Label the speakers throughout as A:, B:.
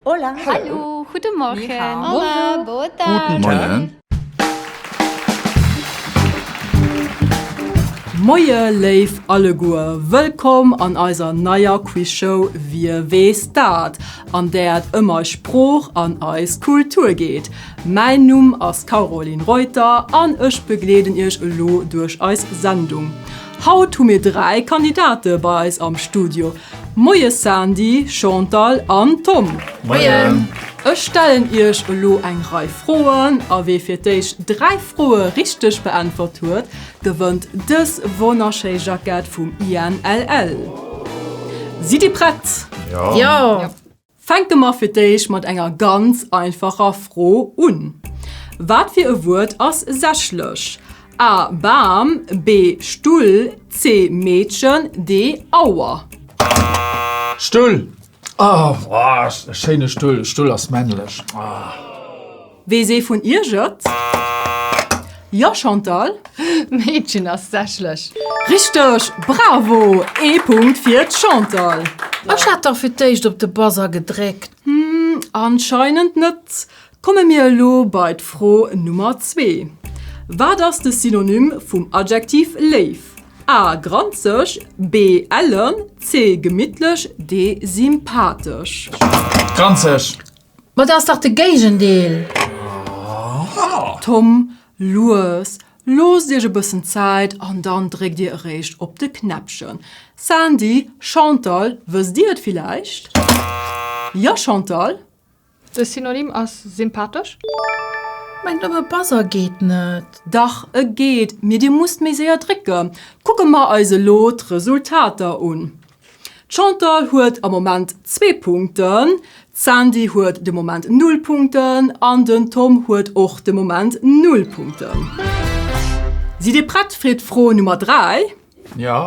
A: Hola. Hallo.
B: Guten Morgen. Ni hao. Hola. Bonjour. Boa tarde. Guten Tag.
C: Moie léif alleguer, wëllkomm an eiser neier Quizshow Wie weess dat? an där et ëm eis Sprooch an eis Kultur geet. Mäin Numm ass Caroline Reuter an ech begleeden iech elo duerch eis Sendung. Haut hu mir dräi Kandidate bei eis am Studio. Moies Sandy, Chantal an Tom. Moien.
D: Ech stellen
C: iech elo eng Rei Froen a wee fir d'éischt 3 Froe richteg beäntwert huet, gewënnt dës wonnerschéi Jackett vum INLL. Sidd Dir prett? Jo.
B: Fänke mer
C: fir d'éischt mat enger ganz einfacher Fro un. Wat fir e Wuert ass sächlech? A, Bam, B, Stull, C, Meedchen, D, Auer?
D: Stull! Oh, e schéine Stull! Stull ass männlech.
C: Wees ee vun iech et? Jo Chantal? Meedchen
B: ass sächlech! Richteg!
C: Bravo! Ee Punkt fir d'Chantal! Ech hat dach
B: fir d'éischt op de Buzzer gedréckt. Hm, anscheinend
C: net. Komme mir elo bei d'Fro Nummer zwee. Wat ass de Synonym vum Adjektiv léif? A, granzeg, B, ellen, C, gemittlech, D, sympathesch. Granzeg!
D: Ma dat ass
B: dach de Géigendeel! Tom,
C: lues, loosst iech e bëssen Zäit an dann dréckt dir eréischt op de Knäppchen. Sandy, Chantal, wësst dir et villäicht? Jo, Chantal? De Synonym
A: ass sympathesch.
B: Mengt nëmme e Buzzer geet net. Dach, e geet,
C: mee dir musst méi séier drécken. Kucke mer eis elo d'Resultater un. D'Chantal huet am Moment zwee Punkten, d'Sandy huet de Moment null Punkten an den Tom huet och de Moment null Punkten. Sidd Dir prett fir d'Fro Nummer 3? Jo.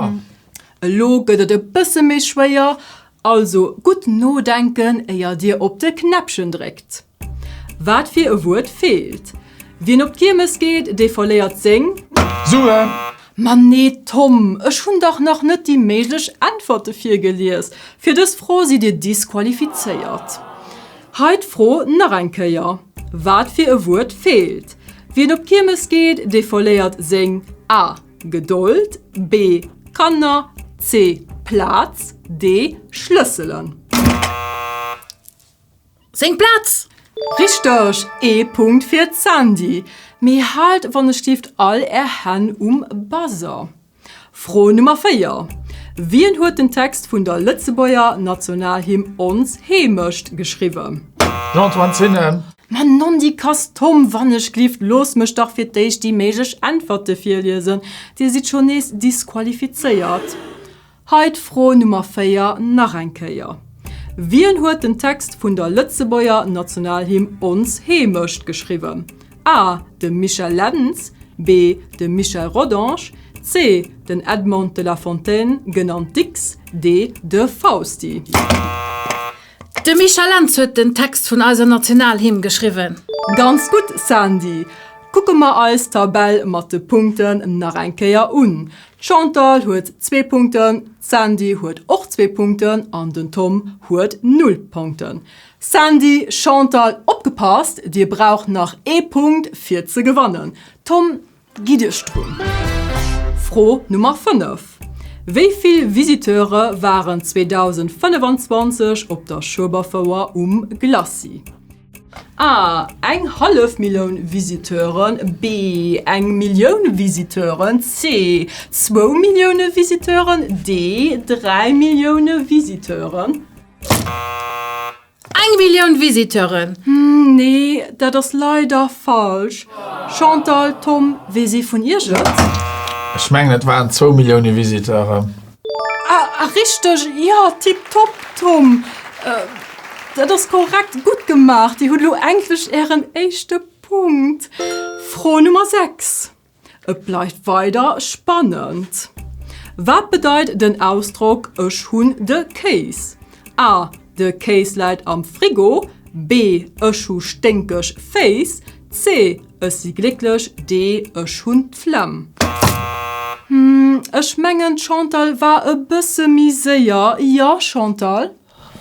D: Elo
C: gëtt et e bësse méi schwéier, also gutt nodenken, éier Dir op de Knäppchen dréckt. Wat fir e Wuert feelt? Wien op d'Kiermes geet, dee verléiert seng. Suen!
D: Ma nee
C: Tom, ech hunn dach nach net déi méiglech Äntwerte virgelies. Fir dës Fro sidd Dir disqualifizéiert. Hei d'Fro nach eng Kéier, Wat fir e Wuert feelt? Wien op d'Kiermes geet, dee verléiert seng, a, Gedold, b, Kanner, c, Plaz, d, Schlësselen.
B: seng Plaz! Richteg!
C: Ee Punkt fir d'Sandy. Mee haalt wannechstieft all är Hänn um Buzzer. Fro Nummer 4, Wien huet den Text vun der Lëtzebuerger Nationalhymn Ons Heemecht geschriwwen? Jean-Antoine Zinne.
D: Ma nondikass
C: Tom, wannechglift looss mech dach fir d'éischt déi méiglech Äntwerte virliesen. Dir sidd schonn nees disqualifizéiert. Hei d'Fro Nummer 4 nach eng Kéier, Wien huet den Text vun der Lëtzebuerger Nationalhymn Ons Heemecht geschriwwen? A, De Michel Lentz, B, De Michel Rodange, C, Den Edmond de la Fontaine, genannt Dicks, D, De Fausti.
B: De Michel Lentz huet den Text vun eiser Nationalhymn geschriwwen. Ganz gutt,
C: Sandy! Kucke mer eis d'Tabell mat de Punkten nach eng Kéier un. D'Chantal huet zwee Punkten, d'Sandy huet och zwee Punkten an den Tom huet null Punkten. Sandy, Chantal, opgepasst, Dir braucht nach ee Punkt fir ze gewannen. Tom, gitt Iech drun. Fro Nummer 5, Wéi vill Visiteure waren 2025 op der Schueberfouer um Glacis? A, Eng hallef Milloun Visiteuren, B, Eng Millioun Visiteuren, C, Zwou Millioune Visiteuren, D, Dräi Millioune Visiteuren.
B: Eng Millioun Visiteuren! Nee,
C: dat ass leider falsch. Chantal, Tom, weess ee vun iech et? Ech mengen
D: et waren zwou Millioune Visiteuren. Ah, ah
C: richteg, jo, tiptop, Tom. Dat ass korrekt, gutt gemaach. Dir hutt elo endlech ären éischte Punkt. Fro Nummer 6, et bleift weider spannend. Wat bedeit den Ausdrock Ech hunn de Kéis? A, De Kéis läit am Frigo. B, Ech hu sténkeg Féiss. C, Ech si glécklech. D, Ech hunn d'Flemm. Hm, ech mengen d'Chantal war e bësse méi séier. Jo, Chantal?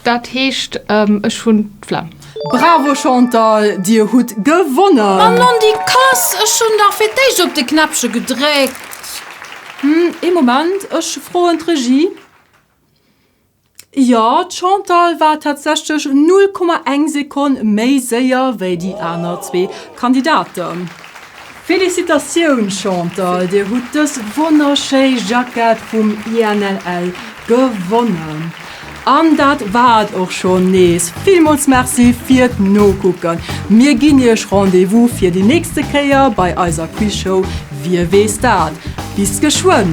C: Dat
A: heescht, ech hunn d'Flemm. Bravo
C: Chantal, Dir hutt gewonnen! Mann, an déi
B: Kass! Ech hunn dach fir d'éischt op de Knäppche gedréckt! Hm,
C: ee Moment, ech froen d'Regie. Jo, d'Chantal war tatsächlech 0,1 Sekonn méi séier wéi déi aner zwee Kandidaten. Félicitatioun Chantal, Dir hutt dës wonnerschéi Jackett vum INLL gewonnen. An dat war et och schonn nees. Villmools Merci fir d'Nokucken. Mir ginn Iech Rendez-vous fir déi nächste Kéier bei eiser Quizshow Wie weess dat? Bis geschwënn!